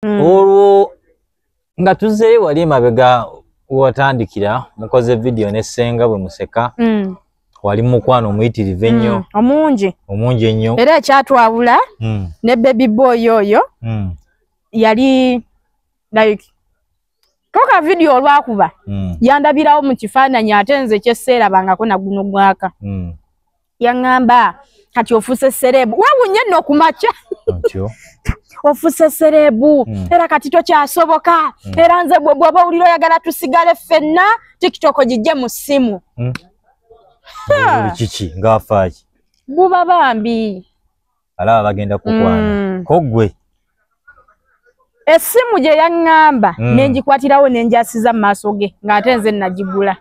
mm. olwo nga tuzeeyo wali emabega watandikira mukoze vidiyo ne ssenga bwe museka mm. wali mukwano omuyitirivu ennyo mm. omungi omungi ennyo era ekyatwawula mm. ne bebi boy oyo mm. yali like toka vidiyo olwakuba mm. yandabirawo mu kifaananyi ate nze kyesseerabangako naguno gwaka mm. yaŋŋamba kati ofuuse sereebu wewunye nno ku makya ofuuse sereebu mm. era kati tokyasoboka mm. era nze gwe bwoba owulira oyagala tusigale ffenna tiktok gijje mu ssimu mm. kiki ngaafaaki buba bambi alaba bagenda kukwana mm. kogwe esimu gye yaŋŋamba mm. nenjikwatirawo nenjasiza mu maaso ge ng'ate nze nagigula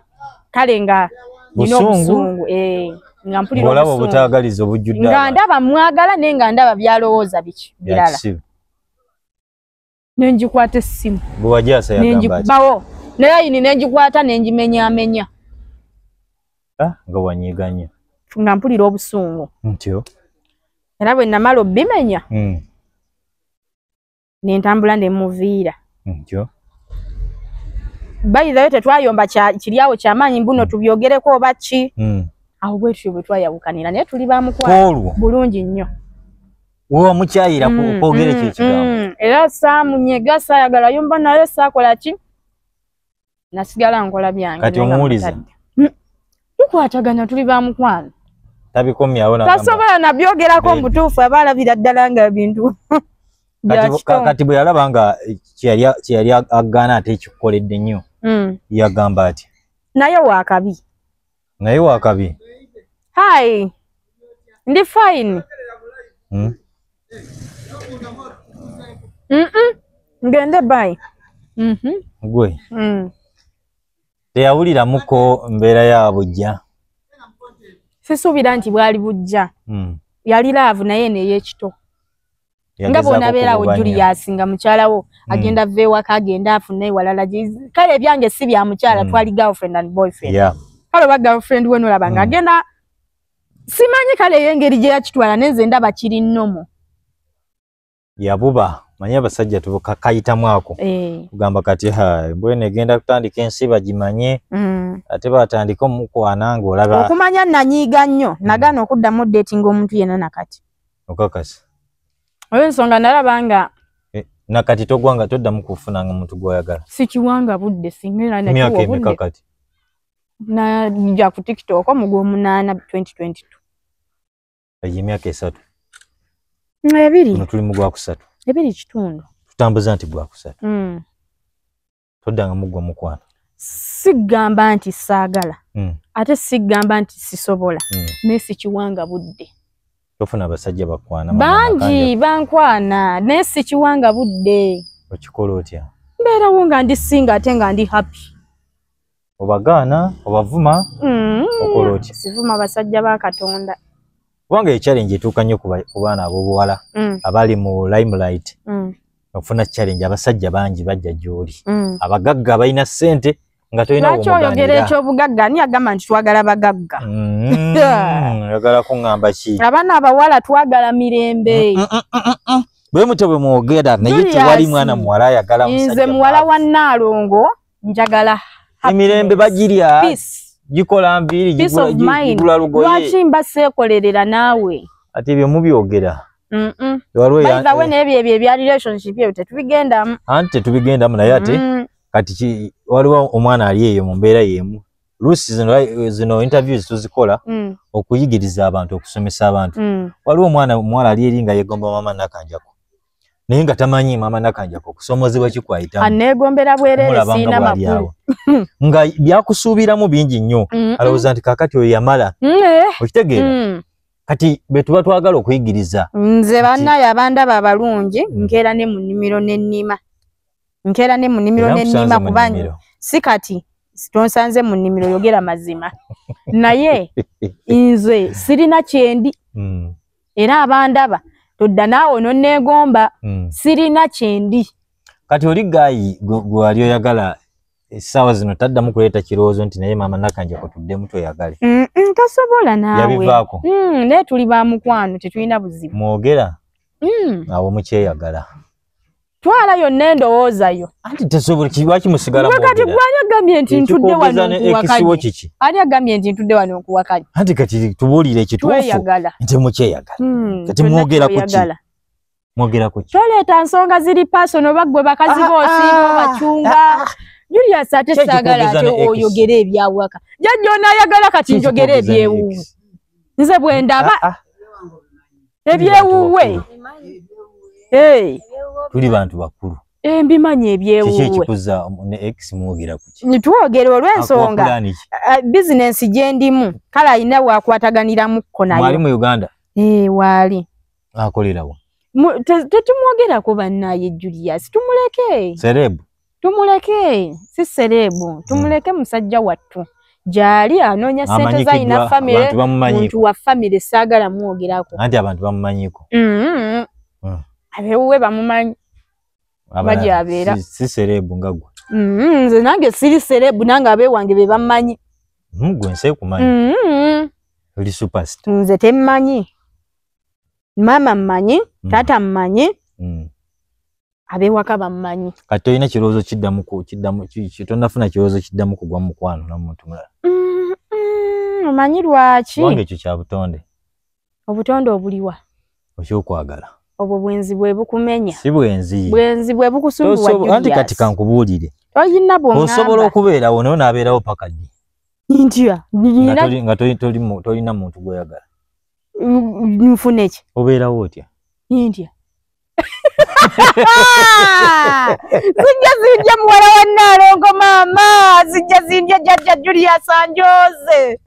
kale nga nina obusungu eh, nga mpuliraolaba obutagaliza obujjudde nga ndaba mwagala naye nga ndaba byalowooza biki birala nenjikwata essimu nenjikubawo ne layini nenjikwata nenjimenyamenya ah, nga wanyiganya nga mpulira obusungu ntyo era bwe namala obimenya hmm. nentambula nemuviira ntyo bayithayo tetwayomba kiryawo kyamaanyi mbuno hmm. tubyogereko oba ki hmm. awo bwetutyo bwetwayawukanira naye tuli bamukwano bulungi nnyo wewa mukyayira ku mm, kwogera ekyo mm, ekigambo mm. era saamunyega saayagala yumba naye saakola ki nasigala nkola byange kati omuwulize tukwatagana tuli ba mukwano tabikomyawo tasobola nabyogerako mubutuufu aba alabira ddala nga ebintu kati bwe yalaba nga kyeyali agaana ate ekikukoledde nnyo yagamba ati naye wakabi naye wakabi hi ndi fine hmm? mm -mm. ngende by mm -hmm. gwe mm. teyawuliramuko mbeera ya bujja sisuubira nti bwali bujja mm. yali laavu naye neyekito nga bwonabeera awo julius nga mukyala wo mm. agenda va ewaka agenda afuna ewalala kale ebyange si bya mukyala mm. twali girlfriend and boyfriend yeah. kale oba girlfriend we nolaba nga mm. agenda simanyi kale eyo engeri gye yakitwala nenze ndaba kiri nomu yabuba manyi abasajja tubukakayitamu ako eh. kugamba kati mbwene egenda kutandika ensi bagimanye mm. ate batandika omukwana ngaolaba okumanya nanyiiga nnyo nagaana okuddamu datinga omuntu yena nakati okakasa oyo ensonga nalaba nga eh, nakati togwanga toddamu kufunanga omuntu gwoyagala sikiwanga budde singaemyaka emeka kati naja ku tiktok omugwomunaana 2022 eyo emyaka esatu ebiri tuli mu gwakusatu ebiri kitundu tutambuza nti gwakusatu mm. toddanga muggwa mukwano sigamba nti saagala mm. ate sigamba nti sisobola mm. naye sikiwanga budde tofuna abasajja bakwana bangi bankwana naye sikiwanga budde okikola otya mbeerawo nga ndi singa ate nga ndi happy obagaana obavuma mm. okola otya sivuma basajja ba katonda kubanga ye challenge etuuka nnyo ku baana abobuwala mm. abali mu limelight mm. okufuna challenge abasajja bangi bajja gyoli mm. abagagga balina ssente nga tolinalwaki oyogera ekyobugagga ani agamba nti twagala bagagga mm. oyagala kuŋamba ki abaana abawala twagala mirembe mm, mm, bwe mutyo bwe mwogera naye tewali mwana muwala ayagala nze muwala wa nnaalongo njagala emirembe bagirya gikola nviiri gigula lugoye lwaki mba seekolerera naawe ati ebyo mubyogera waliwo nebyo ebyo ebya relationship ebyo tetubigendamu anti tetubigendamu naye ate kati waliwo omwana ali eyo mu mbeera y'emu luusi zino, eh, zino interviews tuzikola mm. okuyigiriza abantu okusomesa abantu mm. waliwo omwana omuwala ali eri nga yegomba mama nakanjako naye nga tamanyi mama nakanjako okusomozebwa kikwayitamu anegombera bwerere siina makulu nga byakusuubiramu bingi nnyo alowooza nti kakati oyo yamala mm, eh. okitegeera mm. kati betuba twagala okuyigiriza nze banaye abandaba abalungi mm. nkeera ne munimiro nenima nkeera ne munimiro nenima kuba si kati tonsanze mu nnimiro yogera mazima naye nze sirina kyendi mm. era abandaba todda naawe nonneegomba hmm. sirina kyendi kati oli gaayi gwewali oyagala essaawa zino taddamu kuleeta kirowoozo nti naye maama nakanje kutuddemu tweyagale tasobola naaweyabivaako hmm, naye tuli ba mukwano tetulina buzibu mwogera hmm. awo mukyeyagala twala yonna endowooza yo anti tesobola kiwaki musigala mwe kati gwani agambye nti ntudde wano nkuwakanye kiki ani agambye nti ntudde wano nkuwakanye anti kati tubuulire ekituufu nti mukyeyagala hmm, kati mwogera ku ki mwogera ku ki toleeta nsonga ziri pasono oba ggwe bakazi ah, boosiiba ah, bacunga ah, julius ate saagala ate oyogere ebyawaka jajja onayagala kati njogere ebyewuwe nze bwe ndaba ebyewuwe tuli bantu bakulu eh, mbimanyi ebyewuwekikuza ne ex mwogera kuki nitwogera olwensonga eh, bizinensi gyendimu kale alina wakwataganiramuko nayewali mu uganda eh, waali akolerawa tetumwogerako bannaye julius tumuleke serebu tumuleke si sereebu hmm. tumuleke musajja wattu gyali anoonya sente zalina famire muntu wa famire saagala mwogerako anti abantu bamumanyiko mm-hmm. hmm. abewuwe bamumanyi bagyabeera si sereebu nga gwe mm-hmm. nze nange siri sereebu nange abewange be bammanyi hmm, gwe nsi ekumanyi mm-hmm. oli superst nze temmanyi maama mmanyi taata mmanyi abewaka bammanyi kati tolina kirowoozo kiddamu kiddamu tonafuna kirowoozo kiddamu kugwa mukwano namuntu mulala omanyi lwaki kubanga ekyo kya butonde obutonde obuliwa okyokwagala obwo bwenzi bwe bukumenya si bwenzi bwenzi bwe bukusumbuwaanti kati kankubuulire oyina bwosobola okubeerawo naye onaabeerawo paka ddi ntya nga tolina muntu gwoyagala nfuneki obeerawo otya ntya zijja zindya muwala wa naalongo maama zijja zindya jajja julius anjoze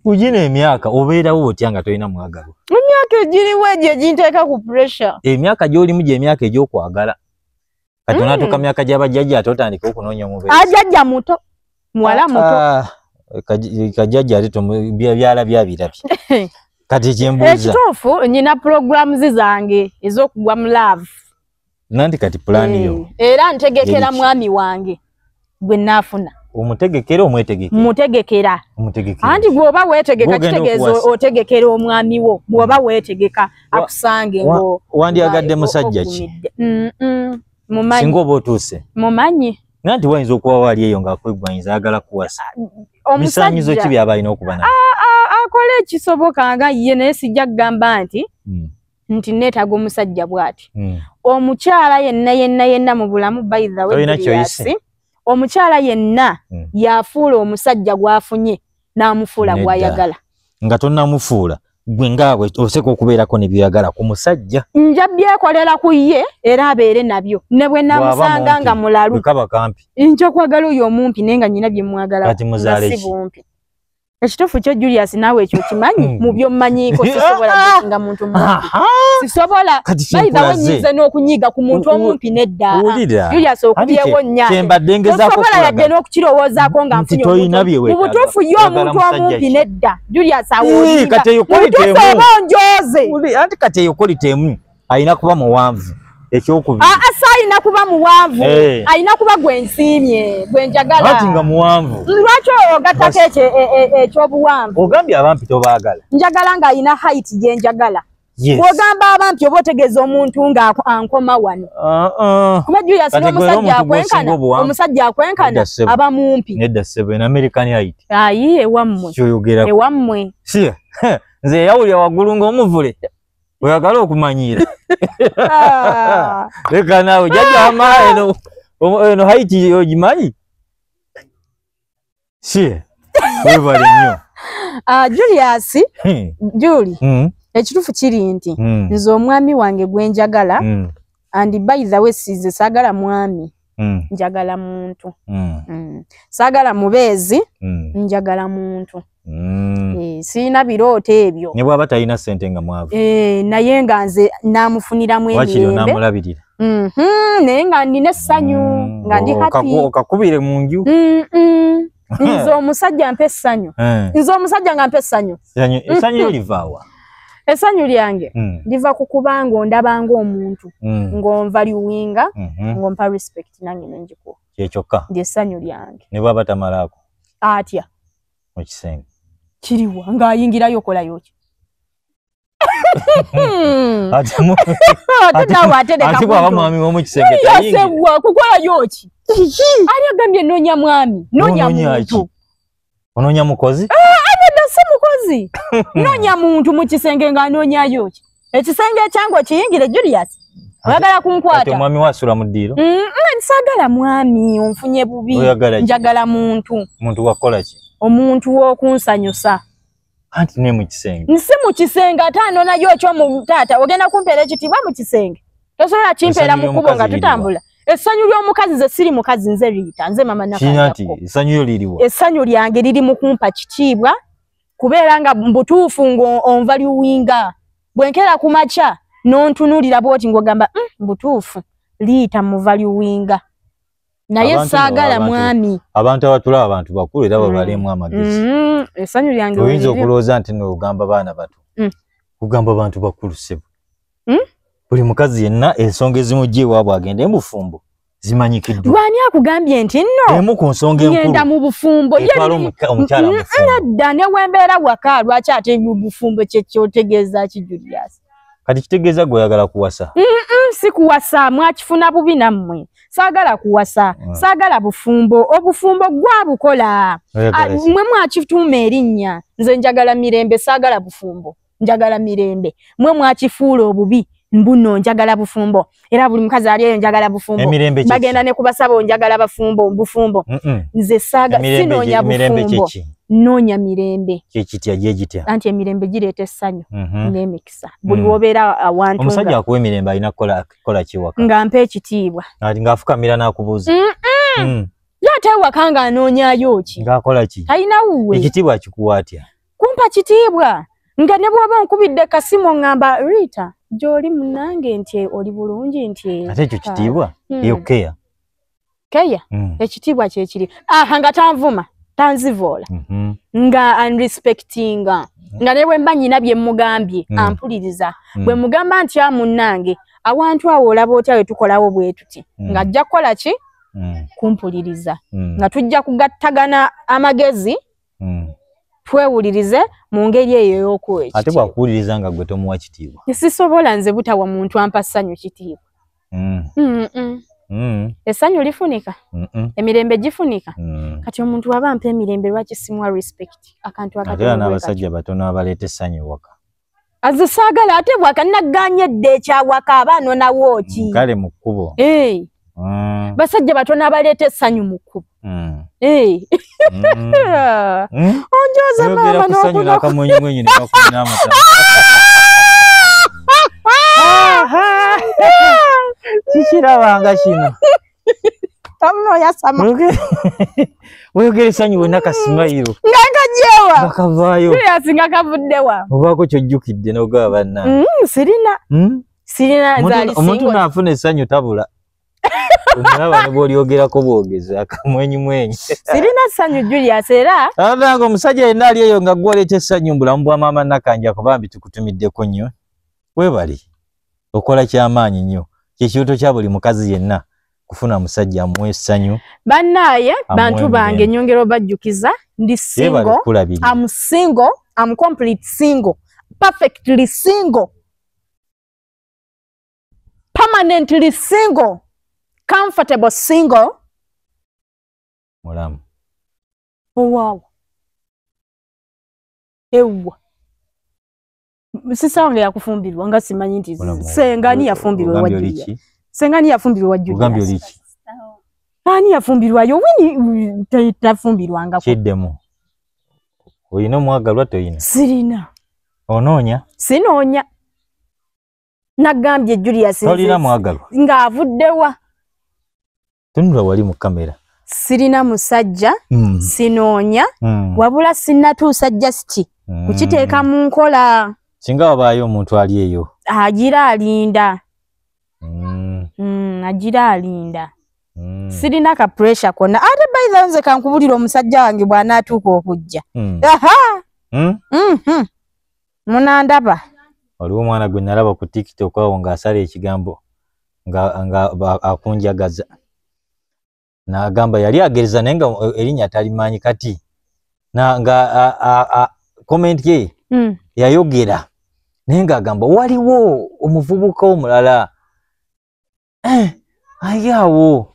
ugina emyaka obeerawo otya nga tolina mwagalwa emyaka egiriwo egyo eginteeka ku pressure emyaka gyolimu gyemyaka egyokwagala kati Mm. onatuuka myaka gya bajjajja ate otandike okunoonya omubeezi ajajja muto muwala muto Ah, kaj- kajjajja ate tomu- bya- byalabye abirabye kati kyembuuza ekituufu nyina programs zange ez'okugwa mu love nanti kati pulaani yo Eh, era ntegekera Yeri ki? mwami wange gwe naafuna omutegekera omwetegekera mutegekera omutegekera anti bwoba wetegeka kitegeeza otegekera omwami wo bwoba wetegeka akusange ngo wandyagadde musajja ki mumanyi singa oba otuuse mumanyi naye nti wayinza okuba waali eyo ngaakwegwanyinza ayagala kuwasa misanyizo ki byaba alina okuba na ah, ah, akola ekisoboka nga ye naye sijja kugamba nti hmm. nti neetaaga omusajja bw'ati hmm. omukyala yenna yenna yenna mu bulamu baidhaweyasi omukyala yenna hmm. yafuula omusajja gw'afunye n'amufuula gw'ayagala nga tonamufuula gwe ngaabwe oseka okubeerako nebyoyagala ku musajja nja byekolera ku ye era abeere nabyo ne bwe namusanga nga mulalu nja okwagala oyo omumpi naye nga nyina byemwagalakati muzaaleki ekituufu kyo julius naawe ekyo okimanyi hmm. mu byommanyiiko sisobola gusinga muntu mumpi sisobola bayizawo nyize n'okunyiiga ku muntu omumpi neddajulius okubyewo nyaosobola yadde n'okukirowoozaako nga nfunyeomu butuufu ye omuntu omumpi nedda julius awomubutuufu oba onjooze anti kati eyo kolitemu alina kuba muwanvu ekyokubiri ah, ah, alina kuba muwanvu eh. alina kuba gwensiimye gwenjagalaati nga muwanvu lwaki ogattako e, e, e, ekyobuwanvu ogambye abampi tobaagala njagala nga alina hait gyenjagala bwogamba abampi oba otegeeza omuntu nga ankoma wano uh-uh. kuba juyasi nomusajja akwenkana omusajja akwenkana aba mumpi ayi ewammwe ewammwe nze eyawulira waggulu ngaomuvule oyagala okumanyiira ah. leka naawe jajama eno eno haiti ogimanyi si webale nnyo ah, julius hmm. juli hmm. ekituufu kiri nti hmm. nze omwami wange gwenjagala and by the way size sagala mwami mm. njagala muntu mm. Mm. sagala mubezi mm. njagala muntu mm. e, sina biroto ebyo ne bwaba talina sente nga mwavu e, naye nga nze namufunira mwe wakiri namulabirira mm -hmm, naye nga nina sanyu mm. nga ndi oh, happy okakubire munju mm -mm. hmm. nze omusajja mpa essanyu hmm. nze omusajja nga mpa essanyu essanyu hmm. livaawa essanyu lyange liva ku kuba nga ondaba ngaomuntu ng'onva liwinga mhm. ng'ompa respect nange nengikuwa kyekyokka ndi essanyu lyange ne bwaba tamalaako atya mu kisenge kiriwa ng'ayingirayo okolayoki Hmm. ate mu- ate nawe ate leka ate bwaba kuntu. mwami womukisenge yasebwa kukolayo ki ani agambye nonya mwami nonya Onoonya muntu ki? ononya mukozi nedda si mukozi nonya muntu mu kisenge ng'anonyayo ki ekisenge ekyange okiyingire julius oyagala ate kunkwata omwami wasula mu ddiiro Mm, mm, saagala mwami onfunye bubi Oyagala ki? njagala muntu muntu wakukola ki omuntu w'okunsanyusa anti ne mukisenge nsi mukisenge ate anonayo ekyo mu taata ogenda kumpeera ekitiibwa mukisenge tosobola kimpeera mu kubo nga tutambula essanyu ly'omukazi ze siri mukazi nze liyita nze mama essanyu lyange liri mu kumpa kitiibwa kubeera nga mbutuufu ng'onva liwinga bwe nkeera ku makya n'ontunuulira bwoti ng'ogamba hmm, mbutuufu liyita muva liwinga naye saagala mwami abantu abatula abantu bakulu era babalimu mm. amagezi mm, esanyu lyange oyinza okulowooza nti nogamba baana bato mm. kugamba bantu bakulu sebo buli mukazi yenna ensonga ezimu gye ewaabwe agenda emufumbo zimanyikiddwa lwani akugambye nti nno emu ku nsonga enkuluenda mu bufumbo yedda newembeera waka lwaki ate mu bufumbo kyekyotegeeza kijuliyasi kati kitegeeza gwe oyagala kuwasa si kuwasa mwakifuna bubi nammwe saagala kuwasa mm. saagala bufumbo obufumbo gwabukola ah, mwe mwakituuma erinnya nze njagala mirembe saagala bufumbo njagala mirembe mwe mwakifuula obubi mbuno njagala bufumbo era buli mukazi ali eyo njagala bufumbo bagenda ne kubasaba onjagala bafumbo bufumbo nze saaga sinoonya bufumbo noonya mirembe kyekitya gyegitya anti emirembe gireeta essanyu mhm. n'emikisa mm. buli wobeera awantu omusajja akuwa emirembe alina kukola kiwaka nga mpa ekitiibwa ng'afukamira n'akubuuza mm. ye ate ewaka ng'anoonyayo ki ng'akola ki talina wuwe ekitiibwa akikuwa atya kumpa kitiibwa nga ne bw'oba onkubidde kasimu ŋŋamba riita gy'oli munange nti oli bulungi nti ate ekyo kitiibwa hmm. eyo keya keya hmm. ekitiibwa kyekiri aha nga tanvuma tanzivoola mhm. nga anrespectinga nga ne bwe mba nnyina bye mmugambye hmm. ampuliriza bwe mugamba nti a munnange awantu awo olaba otya we tukolawo bwe tuti nga ajja kukola ki kumpuliriza nga tujja kugattagana amagezi mm. twewulirize mu ngeri eyo ey'okuwa ate bwakuwuliriza nga gwe tomuwa kitiibwa sisobola nze butawa muntu ampa ssanyu kitiibwa mm. mm -mm. Mm. esanyu lifunika mm -mm. emirembe gifunika mm. kati omuntu waba mpa emirembe lwaki simwa respect akantu akati abasajja batono abaleta esanyu waka aze saagala ate bwaka naggaanya edda ekyawaka aba anonawo ki mm, kale mu kkubo eh. mm. basajja batono abaleeta essanyu mu kkubo mm. eh. onjoza maama nokunokunyinaamuaa kikirabanga kino Wabula oyasama. Mwogere- weyogere sanyu wena kasimayiro Nga kajewa. bakavaayo Serious nga kavuddewa. obaako kyojjukidde n'ogaba banna Mm, sirina. Hmm? Sirina Omuntu- zaali omuntu single. naafuna essanyu tabula omulaba ne bwolyogerako bwogezi akamwenyumwenyi Sirina ssanyu Julius era abange omusajja yenna ali eyo nga gwolekya essanyu mu bulamu bwa maama nakanjako bambi tukutumiddeko nnyo webali okola kyamaanyi nnyo kyekirooto kya buli mukazi yenna kufuna musajja amuwa essanyu bannaaye bantu bange nyongera obajjukiza ndi singo am singo am complete singo perfectly singo permanently single comfortable single mulamu owawa oh, ewwa sisange yakufumbirwa nga simanyi nti senga ani yafumbirwa wajja senga ani yafumbirwa wajja ogambye oliki ani yafumbirwa yo wini tafumbirwa nga kiddemu oyina omwagalwa toyina sirina onoonya sinoonya nagambye julius tolina mwagalwa ng'avuddewa tunula wali mu kamera sirina musajja mm. sinoonya mm. wabula sinatuusa justi mm. kukiteeka mu nkola singa wabaayo omuntu ali eyo agira alinda mm. mm, agira alinda mm. sirina ka pressure kona ate baitha nze kankubulira omusajja wange bwanaatuuka okujja mm. mm -hmm. munandaba waliwo omwana gwe nalaba ku tiktok awo ng'asala ekigambo nga akunjagaza n'agamba yali agereza naye nga eh, erinnya talimanyi kati nga komenti ye hmm. yayogera naye ng'agamba waliwo omuvubuka omulala eh, aye awo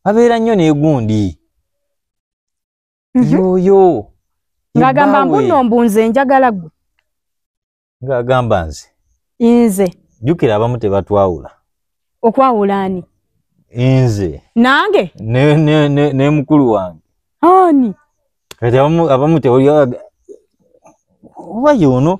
abeera nnyo n'egundi Mhm. yoyo ng'agamba mbu nno mbu nze njagala gwe ng'agamba nze nze jjukira abamu tebatwawula okwawula ani nze nange ne- ne- ne- ne mukulu wange ani kati abamu abamu tewulira oba yono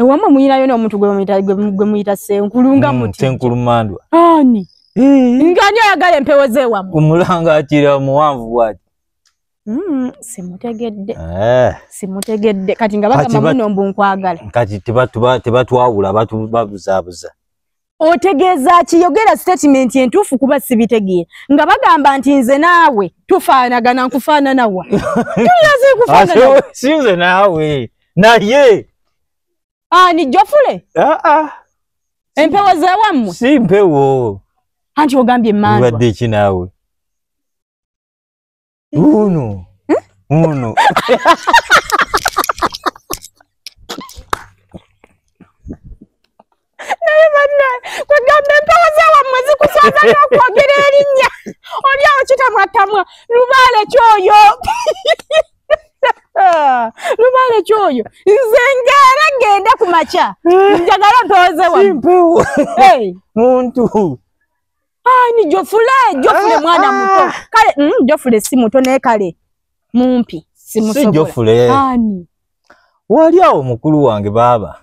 ewamwe muyinayo n'omuntu gwe muyita senkulu nga mm, muti senkulu mandwa ani eh. nga ani ayagala empewo z'ewamwe omulanga akira omuwanvu bwati mm, simutegedde eh. simutegedde kati nga bagamba muno mbu nkwagala kati tebatwawula babuzaabuza otegeeza ki yogera sitatimenti entuufu kuba sibitegeera nga bagamba nti nze naawe tufaanagana nkufaananawa tulaze kufaananasinze naawe naye ani jofule ah, ah. empewo zewammwe si mpewo anti ogambye manzwa wadde ki naawe Uno. Uno. naye banna kwegamba empewo zewammwe zikuswaza nokwogera erinnya oli awo kitamwatamwa lubaale kyoyo lubaale kyoyo nze ngaera ngenda ku makya njagala mpewo zewammwe muntu ani jofule jofule ah, mwana ah. muto kale mm, jofule si muto naye kale mumpi si jofule ani wali awo mukulu wange baaba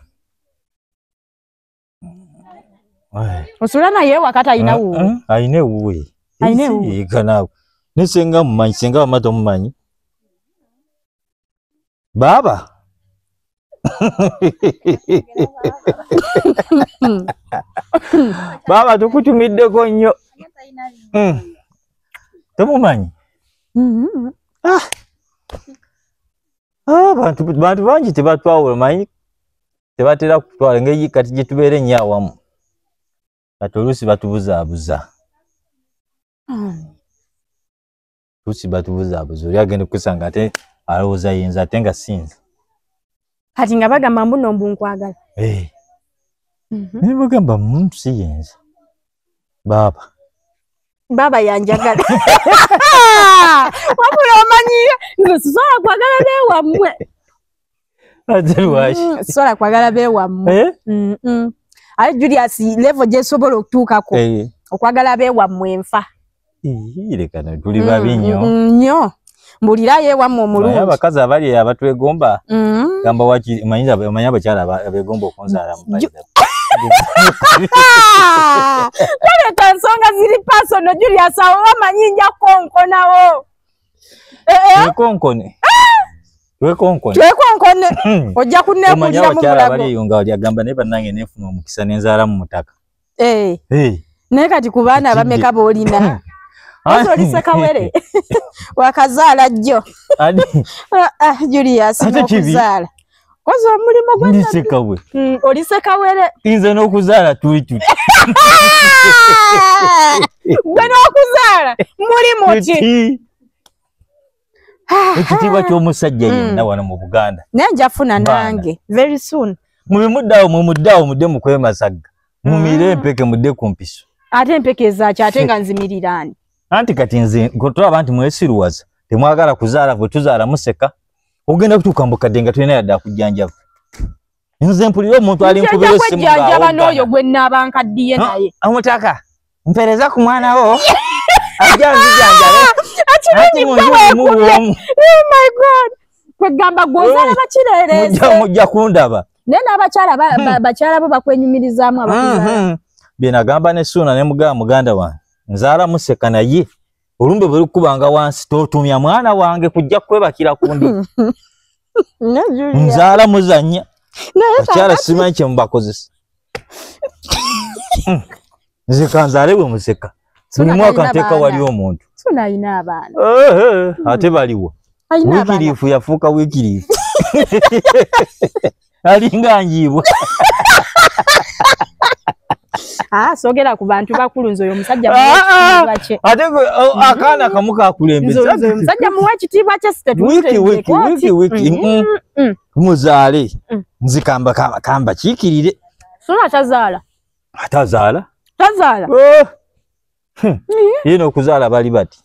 osula naye wakata ayina wuwe ah, ah, ayina ewuwe ayina ewuwe naye senga mumanyi senga wamata omumanyi baaba baaba tukutumiddeko nnyo hmm. tomumanyi mm-hmm. ah. ah, bantu bangi tebatwawula manyi tebatera kutwala ngeri kati gye tubeera ennyo awamu kati oluusi batubuzaabuza hmm. tusi batubuzaabuza oli agenda okusanga ate alowooza yinza ate nga sinza kati nga bagamba mbuno mbu nkwagala eh. mhm. naye bagamba muntu si yinza baaba baaba yanjagala wabula omanyiyo nze sisobola kwagala newammwe ate lwaki Mm, sisobola kwagala bewammwe Eh? Mm, mm. aye julius levo gyesobola okutuukako Eh, okwagala bewammwe enfa ii, leka no, tuli Mm, babi nnyo mm, nnyo mbulirayo ewammwe Naye omulungi abakazi abali eyo abatwegomba Mm. gamba waki omanyi aba- omanyi abakyala aba- abegomba okunzaala mu Ju- Ah! Toleta nsonga ziri pasono Julius awo wamanyi nja kukonkonawo. Eh, eh, twekonkone twekonkone twekonkone hmm. ojja kunneekuliramu mulago baliyo nga wali agamba naye bannange neefuna omukisa ne nzaala mu mutaka eh. naye kati ku baana abameka boolina hmm. Ozo olise kawere. Wakazala jo. Adi. Ah, ah, Julius, mokuzala. koze omulimu gwa ndi sekawe Mm, oli sekawere inze n'okuzaala tuli tuti gwe n'okuzaala mulimu ki Tuti. ekitiibwa ky'omusajja Mm. yenna wano mu buganda naye nja funa Baana. nange very soon mubimuddawo mumuddawo mudde mukwemasagga mumiire Mm. empeke mudde ku mpiso ate empeke ezaaki ate nga nzimirirani anti kati nze kutulaba nti mwesiruwaza temwagala kuzaala bwe tuzaala museka ogenda kutuuka mu bukadde nga tulina yadde akujjanjaba nze mpulira omuntu ali nkubira essimu ng'awogana n'oyo gwe nnaaba nkaddiye naye omutaka mpereza ku mwana wo ajja nzijanjabe ati mu nju mulimu bwomu oh my god kwegamba gwozala bakireeremujja kundaba naye n'abakyala hmm. bakyala bo bakwenyumirizaamu abaa hmm, hmm. byenagamba ne suuna ne mugaba muganda wange nzaala museka naye olumbe bwe lukubanga wansi totumya mwana wange kujja kwebakira kundi nzaala muzanya akyala simanyi kyemubakozesa hmm. nze kanzaale bwe museka buli mwaka nteeka wali omuntu ate baliwo wikiriifu yafuuka wikiriifu alinga njiibwa Ah, sogera ku bantu bakulu nze oyo omusajja ah, ah. ate mm-hmm. akaana kamu kakulembemusajja muwa ekitiibwa kye sitetuwiki muzaale mm. nzikamba kamba kiikirire sona tazaala atazaala tazaala oh. Hmm. ye n'okuzaala bali bati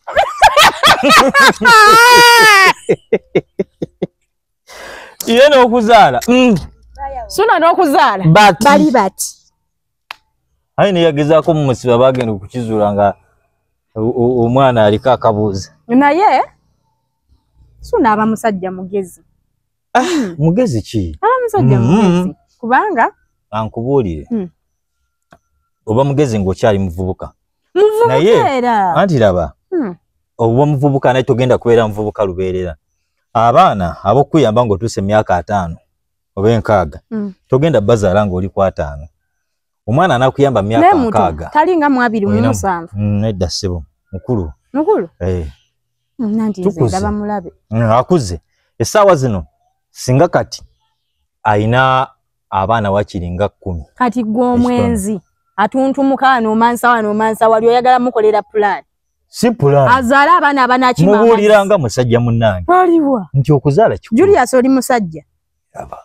ye n'okuzaala hmm. suna n'okuzaala bali bati aye neyagezaako mu musiba bagenda okukizuula nga omwana aliko akabuuza naye suna aba musajja mugezi ah, mugezi ki aba musajja hmm. mugezi kubanga ankubuulire oba mugezi ng'okyali muvubuka naye anti laba hmm. oba muvubuka naye togenda kubeera muvubuka lubeerera abaana ab'okukuyamba ng'otuuse emyaka ataano oba enkaaga hmm. togenda bazaala ng'oli ku ataano omwana anakuyamba myaka nkaaga talinga mu abiri mu musanvu hmm, nedda ssebo mukulu mukulu eh. akuze essaawa zino singa kati ayina abaana wakiri nga kkumi kati gwe omwenzi atuntumuka wano omansa wano omansa wali oyagala mukolera pulaani si pulaani azaala abaana abanakimubuulira nga musajja munnange aliwa nti okuzaala ki julius oli musajja aba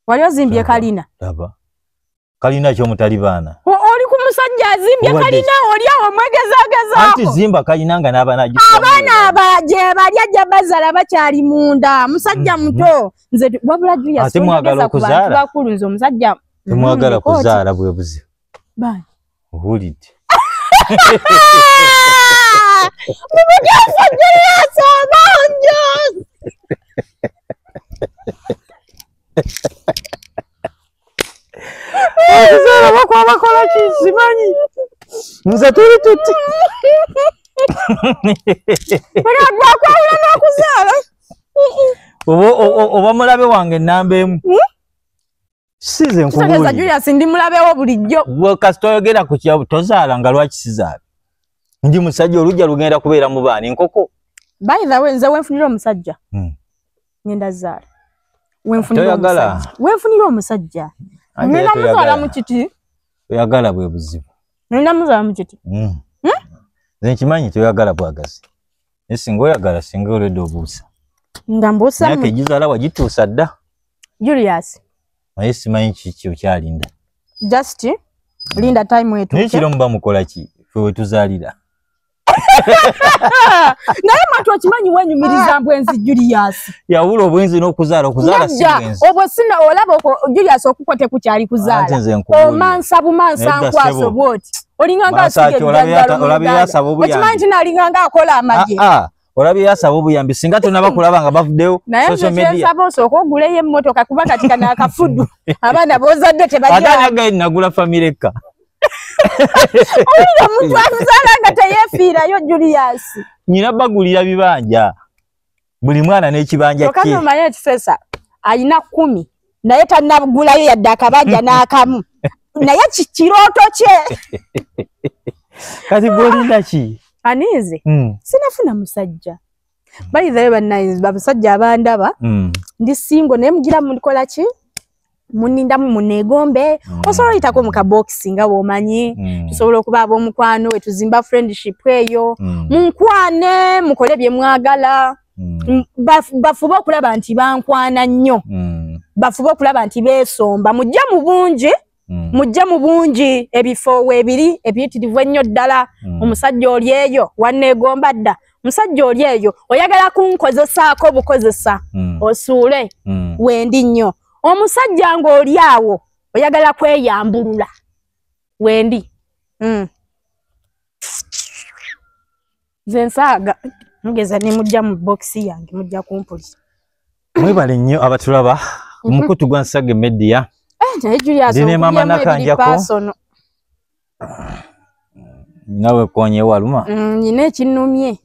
wali ozimbye kalina aba kalina kyo mutali baana oli ku musajja azimbye kalina oli awo omwegezagezaako anti zimba kalina nga n'abaana abaana aba gye bali ajja bazala bakyali munda musajja mm-hmm. muto mm -hmm. nze wabula juya ate mwagala okuzaala bakulu nze omusajja temwagala mm, kuzaala bwe buze bani ohulidde okuzaala bakwa bakola ki simanyi nze tuli tuti bakwawula n'okuzaala oba mulabe wange enamba emu hmm? size nkubuulira julius ndi mulabewo bulijjo kasita oyogera ku kyabu tozaala nga lwaki sizaala ndi musajja olujja lugenda kubeera mu baana enkoko by the way nze wenfunira omusajja hmm. ngenda zaala wenfunira omusajja ngenda muzaala mu kiti oyagala bwe buzibu ngenda muzaala mu kiti hmm. Hmm? nze nkimanyi toyagala bwagazi naye singa oyagala singa oledde obuusa nga mbuusamyaka egizaala wagituusa dda julius naye simanyi kiki okyalinda just linda time etunaye kiro muba mukola ki fe wetuzaalira naye mwatu okimanyi wenyumiriza ah. mbwenzi julius yawula obwenzi nokuzaala okuzaala sibwenzi obwo sina olaba oko julius okuko tekukyali kuzaala omansa bumansa nkwaso bwoti olinganga asigeokimanyi nti nalinganga akola amaje ah, ah. olabye yasaba obuyambi singa tonaba kulaba nga bavuddeyo nayesaba osooka oguleyo emmotoka kuba kati kana akafudu abaana bozadde tebaganagula famire ekka owulira omuntu azaala nga teyefiirayo juliyaasi nyina bagulira bibanja buli mwana n'ekibanja kye okanomayo ekisesa alina kumi naye tanagulayo yadde akabanja n'akamu naye kirooto kye kati gwolinaki aniize hmm. sinafuna musajja bayithayo banainzi babasajja abandaba hmm. ndi singo naye mugira mukola ki munindamu munegombe hmm. osobola oyitako mu kabokisi nga bwomanyi tusobola okuba ab'omukwano wetuzimba friendship eyo munkwane mukole bye mwagala mm. bafube okulaba nti bankwana nnyo mm. bafube okulaba nti beesomba mujja mu bungi mm. mujja mu bungi ebifo weebiri ebiyitirivu ennyo ddala mm. omusajja oli eyo wanneegomba dda musajja oli eyo oyagala kunkozesaako bukozesa mm. osuule mm. wendi nnyo omusajja ng'oli awo oyagala kweyambulula wendi mm. nze nsaaga mugeza nemujja mu bokisi yange mujja kumpulira mwebale nnyo abatulaba mhm. omukutu gwa nsage media eh, ndi ne maama nakanjako nawe konye waluma mm, nyina ekinumye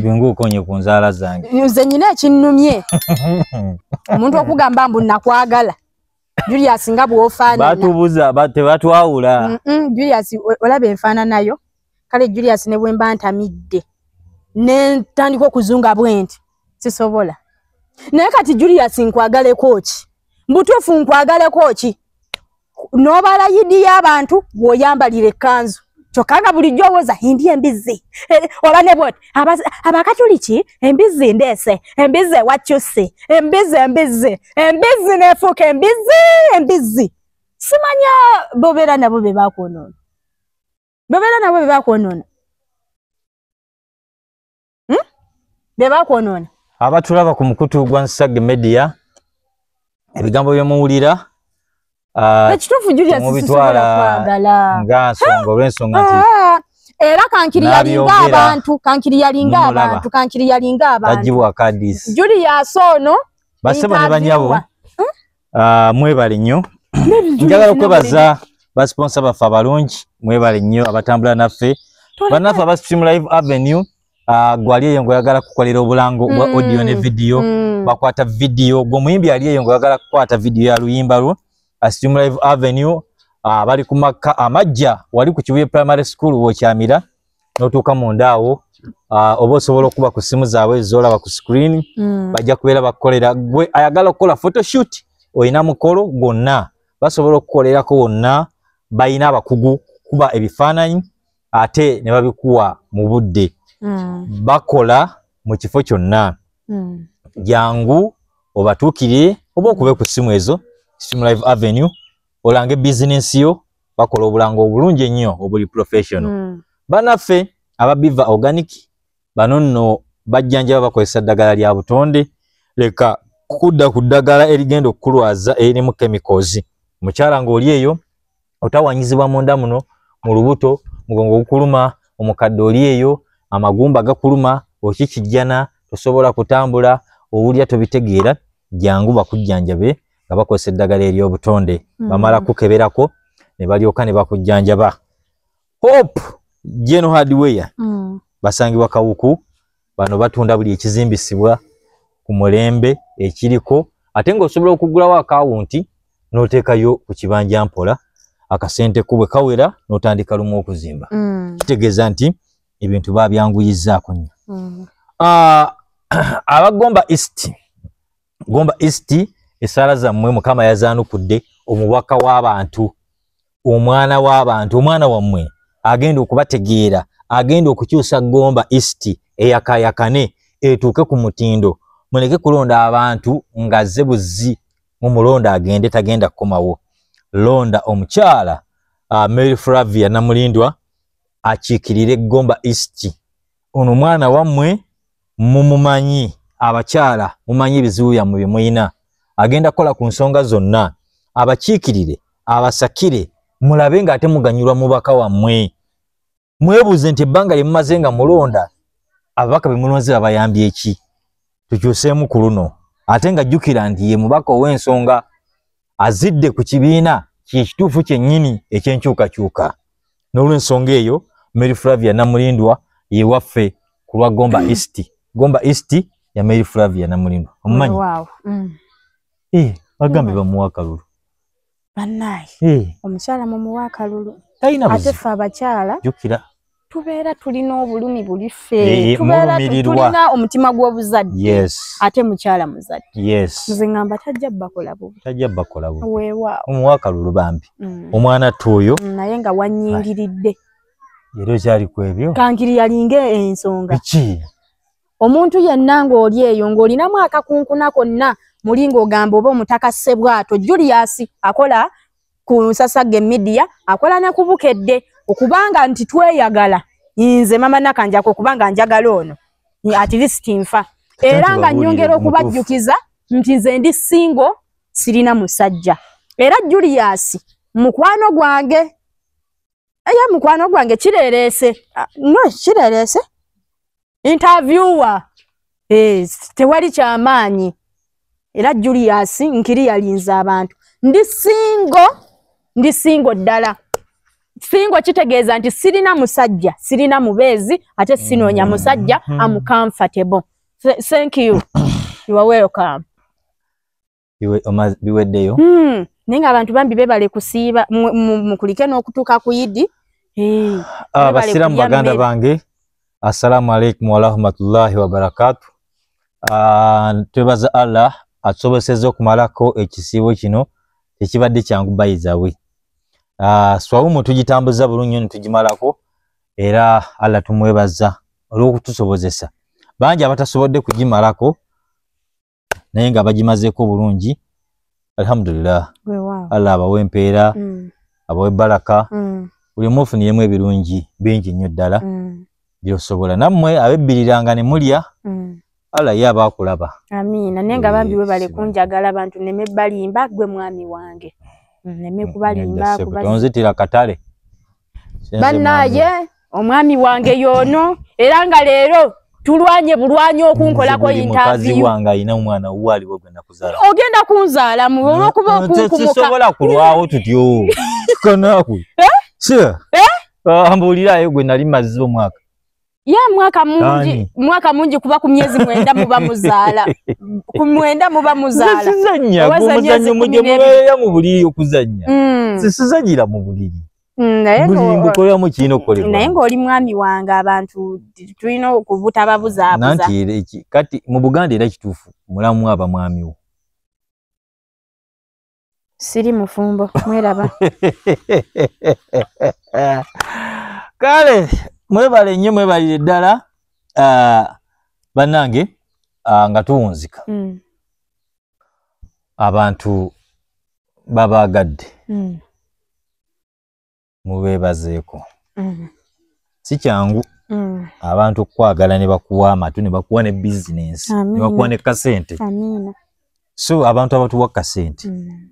bingu konye ku nzaala zange nze nyina ekinumye omuntu okugamba mbu nakwagala julius nga bwofaanana batubuza ba- tebatwawula Mm, mm, julius o- olaba enfaananayo kale julius ne bwe mba ntamidde ne ntandika okuzunga bwenti sisobola naye kati julius nkwagaleko ki mbutuufu nkwagaleko ki n'obala yidi y'abantu bw'oyambalira ekkanzu kyokka nga bulijjo owoza indi embizzi eh, oba ne bwoti abakatuliki embizzi ndeese embizzi ewakyusi embizzi embizzi embizzi nefuuka embizzi embizzi simanya bobeera nabo be bakwonoona bobeera nabo be bakwonoona hmm? bebakwonoona abatulaba ku mukutu gwa nsage media ebigambo byemuwulira ah, ekituufu julia sisubula kwagala nga nsonga olwensonga nti ah, era kankiri yalinga abantu kankiri yalinga abantu kankiri yalinga abantu ajibwa kadis julia sono basebo ne banyabo Ah, mwebale nnyo njagala okwebaza basponsa baffe abalungi mwebale nnyo abatambula naffe banaffe aba stream live avenue ah, gwali eyo ngaoyagala kukolera obulango bwa mm, audio ne vidiyo mm. bakwata vidiyo gwe omuyimbi ali eyo ngaoyagala kukwata vidiyo ya luyimba lwo ah, stream live avenue bali ku makka amajja wali ku kibuye primary school wokyamira notuuka munda awo uh, oba osobola okuba ku simu zaabwe zolaba ku screen mm. bajja kubeera bakukolera gwe ayagala okukola photoshoot olina mukolo gwonna basobola okukolerako wonna balina abakugu kuba ebifaananyi ate ne babikuwa mu budde mm. bakola mu kifo kyonna mm. jangu obatuukire oba okube ku simu ezo simu live avenue olange bizinensi yo bakola obulango obulungi ennyo obuli professional mm. banaffe ababiva organic bano nno bajjanjaba bakozesa ddagala lya butonde leka kudda ku ddagala erigenda okukulwaza eririmu chemicals mukyala ng'oli eyo otawanyizibwa munda muno mu lubuto mugongo gukuluma omukadde oli eyo amagumba gakuluma okikijjana tosobola kutambula owulira tobitegeera jangu bakujjanjabe nga bakozesa eddagala ery'obutonde mm. bamala kukeberako ne balyoka ne bakujjanjaba hope geno hardware mm. basangibwa kawuku bano batunda buli ekizimbisibwa ku mulembe ekiriko ate ng'osobola okugulawo akawunti n'oteekayo ku kibanja mpola akasente ko bwe kawera n'otandika lumu okuzimba mm. kitegeeza nti ebintu babyanguyizzaako nnyo mm. ah, abagomba east gomba east esaala zammwe mukama yazaanukudde omubaka w'abantu omwana w'abantu omwana wammwe agenda okubategeera agenda okukyusa gomba east eyakayakane etuuke ku mutindo muleke kulonda abantu ng'azze buzzi mu mulonda agende tagenda kukomawo londa omukyala uh, mary flavia namulindwa akiikirire gomba east ono omwana wammwe mumumanyi abakyala mumanyi ebizibu byammwe bye mulina agenda kukola ku nsonga zonna abakiikirire abasakire mulabe ng'ate muganyulwa mubaka wammwe mwebuuze nti ebbanga lye mumaze nga mulonda ababaka be mulonze babayambye eki tukyuseemu ku luno ate nga jjukira nti ye mubaka ow'ensonga azidde ku kibiina kyekituufu kyennyini ekyenkyukakyuka n'olwensonga eyo mary flavia namulindwa yewaffe ku lwa gomba east gomba east ya mary flavia namulindwa omumanyi mm. eh, bagambe bamuwa akalulu banaye eh. omukyala mumuwa akalulu talina buzibu ate fe abakyala jukira tubeera tulina obulumi buli ffe tubeera tulina omutima gw'obuzadde ate mukyala muzadde nze ngamba tajja bakola bubi tajja bakola bubi weewaawo omuwaaka lulu bambi mm. omwana ttu oyo mm, naye nga wanyingiridde era okyali ku ebyo kankiri yalinga ensonga ki omuntu yenna ng'oli eyo ng'olinamu akakunkuna konna muli ng'ogamba oba omutaka ssebwato julius akola ku nsasage media akola ne kubukedde okubanga nti tweyagala nze mama nakanjako okubanga njagala ono at least nfa era nga nyongera okubajjukiza nti nze ndi singo sirina musajja era julius mukwano gwange eye mukwano gwange kirereese ah, no kirereese interviewer eh, tewali kyamaanyi era julius nkiri yalinze abantu ndi singo ndi singo ddala singo kitegeeza nti sirina musajja sirina mubeezi ate sinoonya musajja mm-hmm. am comfortable thank you you are welcome biweddeyo hmm. naye nga abantu bambi bebale kusiiba mukulike n'okutuuka ku idi ah, abasiraamu baganda bange assalamu alaikum warahmatullahi wabarakatu ah, twebaza allah atusoboseza okumalako ekisiibo kino tekibadde kyangu bayizawe ah, swawumu tugitambuza bulungi nyo nitugimalako era allah tumwebaza olw'okutusobozesa bangi abatasobodde kugimalako naye nga bagimazeeko obulungi alhamdulillah allah abawe empeera mm. abawe balaka mm. buli omu ofuniyemu ebirungi bingi nnyo ddala mm. byosobola nammwe abebbiriranga ne mulya allah ye aba akulaba amiina naye nga bambi webale kunjagala abantu neme balimba gwe mwami wange neme kubalimba onzitira katale banaye omwami wange yono era nga leero tulwanye bulwanye okunkolako intaviuwanga alina omwana wuwo aliwo gwe nakuzala ogenda kunzaala mu olwokuba okunkumukasisobola kulwawo tutyo kanaku eh? eh? ah, mbuulirayo gwe nali mazzi omwaka ya mwaka mungi Ani? mwaka mungi kuba ku myezi mwenda muba muzaala ku mwenda muba muzaala sizanya Oba za myezi omuzanyo kumi muje n'ebiri. mubeera mu buliri okuzanya Mm, sisizanyira mu buliri mm, naye buli nga- mbukoleramu kirina naye okukolebwa ng'oli mwami wange abantu t- tulina okubutababuzaabuza nanti era eki- kati mu buganda era kituufu mulamu aba mwami wo siri mufumbo mweraba kale mwebale nnyo mwebalire ddala ah, bannange ah, nga tuwunzika mm. abantu babaagadde mm. mubeebazeeko mm. si kyangu mm. abantu okukwagala ne bakuwa amatu ne bakuwa ne bizinensi ne bakuwa ne kasente so abantu abatuwa kasente mm.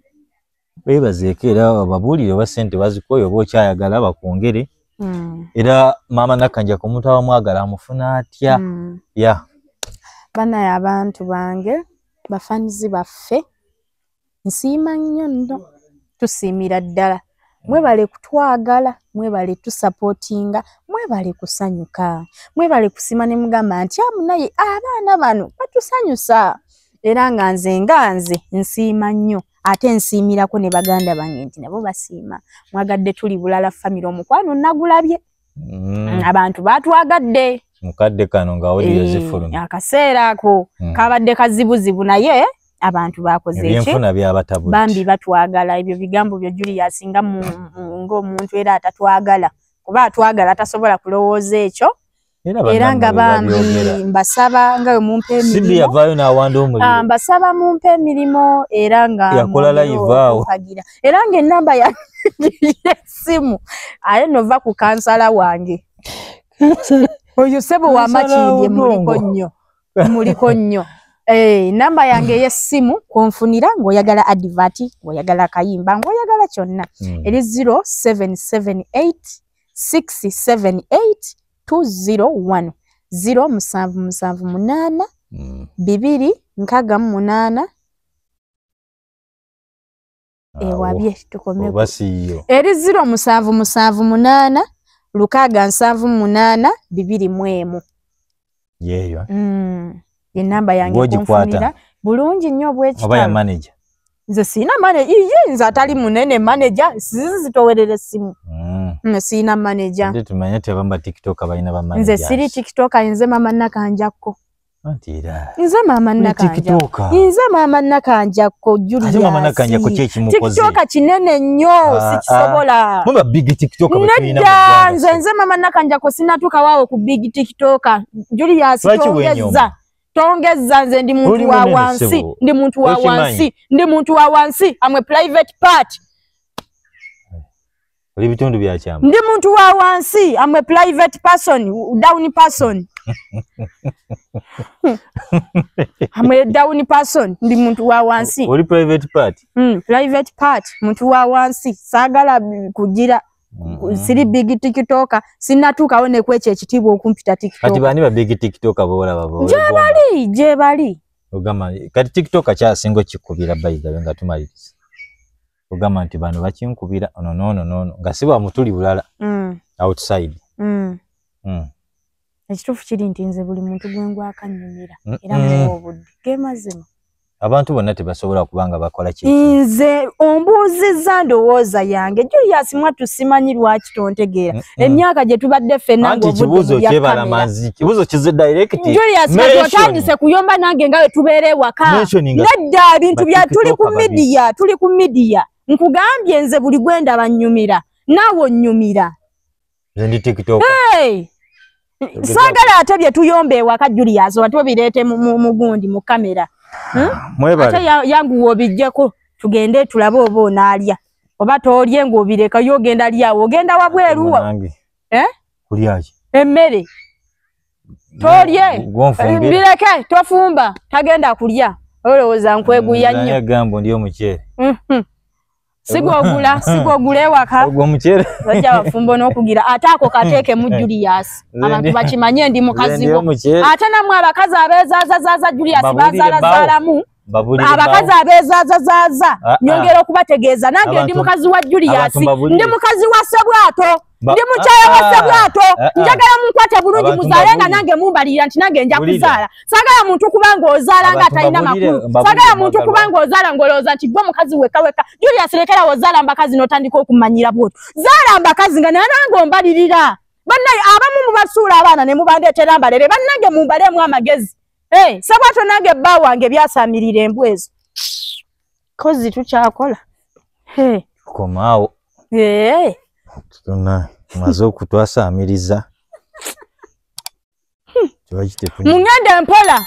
beebazeeko era ababuulire oba sente bazikoyo oba okyayagala bakwongere mm. era maama nakkanja ku omuntu abamwagala amufuna atya mm. ya banaye abantu bange bafanizi baffe nsiima nnyo nno tusiimira ddala mwebale kutwagala mwebale tusapotinga mwebale kusanyuka mwebale kusima ne mugamba nti amu naye abaana bano batusanyusa era nga nze nga nze nsiima nnyo ate nsiimirako ne baganda bange nti nabo basiima mwagadde tuli bulala famire omukwano nagulabye mm. abantu batwagadde mukadde kano nga audio eh, zifulumye akaseera ako mm. kabadde kazibuzibu naye abantu bakozeekyenfuna byabatabu bambi batwagala ebyo bigambo byo julius nga ngaomuntu era atatwagala kuba atwagala atasobola kulowooza ekyo era nga bambi mbasaba nga mumpa emirimmbasaba ah, mumpa emirimu era ngayakola laivaawo era nga enamba ya simu aye nova ku kansala wange oyo sebo wamakindye muliko nnyo muliko nnyo Hey, eh, namba yange ey'essimu kwonfunira ng'oyagala adivati ng'oyagala akayimba ng'oyagala kyonna mm. eri 0778678201 ziro musanvu musanvu munaana mm. bibiri nkaaga mu munaana ewabye eh, tukomeoyo eri ziro musanvu musanvu munaana lukaaga nsanvu munaana bibiri mu emu yeeyo mm. enamba yangeogikwata bulungi nnyo obwekitaba nze siina maneja iye nze atali munene maneja sizizi zitowerera essimu mm. mm, siina maneja nze siri tiktoka nze mama nakanjakko nze maama nakanjainze maama nakanja kojulitiktoka kinene nnyo ah, ah. sikisobola nedda nze nze maama nakanja ko sinatuuka waawo ku big tiktoka julius tongezza tongezza nze ndi muntu wa wansi ndi muntu wa wansi ndi muntu wa wansi amwe private part oli bitundu bya kyama ndi muntu wa wansi am a private person down person am a down person ndi muntu wa wansi oli private part mm, private part muntu wa wansi sagala kujira mm -hmm. siri big tiktoka sinatukawo nekwekyo ekitiibwa okumpita tiktoka kati bani ba big tiktoka bola babo jebali jebali ogamba kati tiktoka kyasinga okikubira bayigabe nga tumaliriza ogamba nti bano bakinkubira ono noono noono nga si bamutuli bulala mm. outside mm. Mm. ekituufu kiri nti nze buli muntu gwe ngwakanyumira mm. era mm. muwa obudde ge mazima abantu bonna tebasobola kuba nga bakola ki nze ombuuzizza ndowooza yange julius mwattu simanyi lwaki tontegeera mm. Mm. emyaka gye tubadde ffenna ngaobuuzo kize directjulius kati otandise kuyomba nange nga wetubeera ewaka nedda bintu bya tuli ku midiya tuli ku midiya nkugambye nze buli gwenda bannyumira naawe onnyumira sagala ate bye tuyomba ewaka julius oba tubireete mu gundi mu kamera hmm? ah, ate yanguwa obijjeko tugende tulabe oba onaalya oba toolye ng'obireka yo ogenda lyawo ogenda wabweruwa eh? kulyaki emmere tolye bireke tofumba tagenda kulya olowooza nkweguya nnyo gamba ndi omuceere mhm. sigwogula sigwogula ewaka ogwo mukyere bajja bafumbo n'okugira ate ako kateeke mu julius abantu bakimanye ndi mukazi wo ate namwe abakazi abeezaazazaaza julius bazaalazaalamu abakazi abeezaazazaaza ah, ah. nyongera okubategeeza nange ndi mukazi wa julius ndi mukazi wa sebwato Ba- ndi mukyala wa Ah, sebwato ah, ah. njagala munkwate bulungi Abantu muzaale nga mbabulire. nange mumbalirira nti nange nja Bulire. kuzaala sagala muntu kuba ng'ozaala nga Abantu atalina mbabulire, makulu mbabulire sagala muntu mwagalwa. kuba ng'ozaala ng'olowooza nti gwe mukazi wekka wekka julius lekera wozaala mbakazi n'otandika okumanyira bwoto zaala mbakazi nga naye nange ombalirira bannaye abamu mubasuula abaana ne mubandeetera mbalere bannange mumbaleemu amagezi Eh, sebwato nange bba wange byasamirira embwa ezo kozi tukyakola komaawo tuna maze okutwasaamiriza mungenda mpola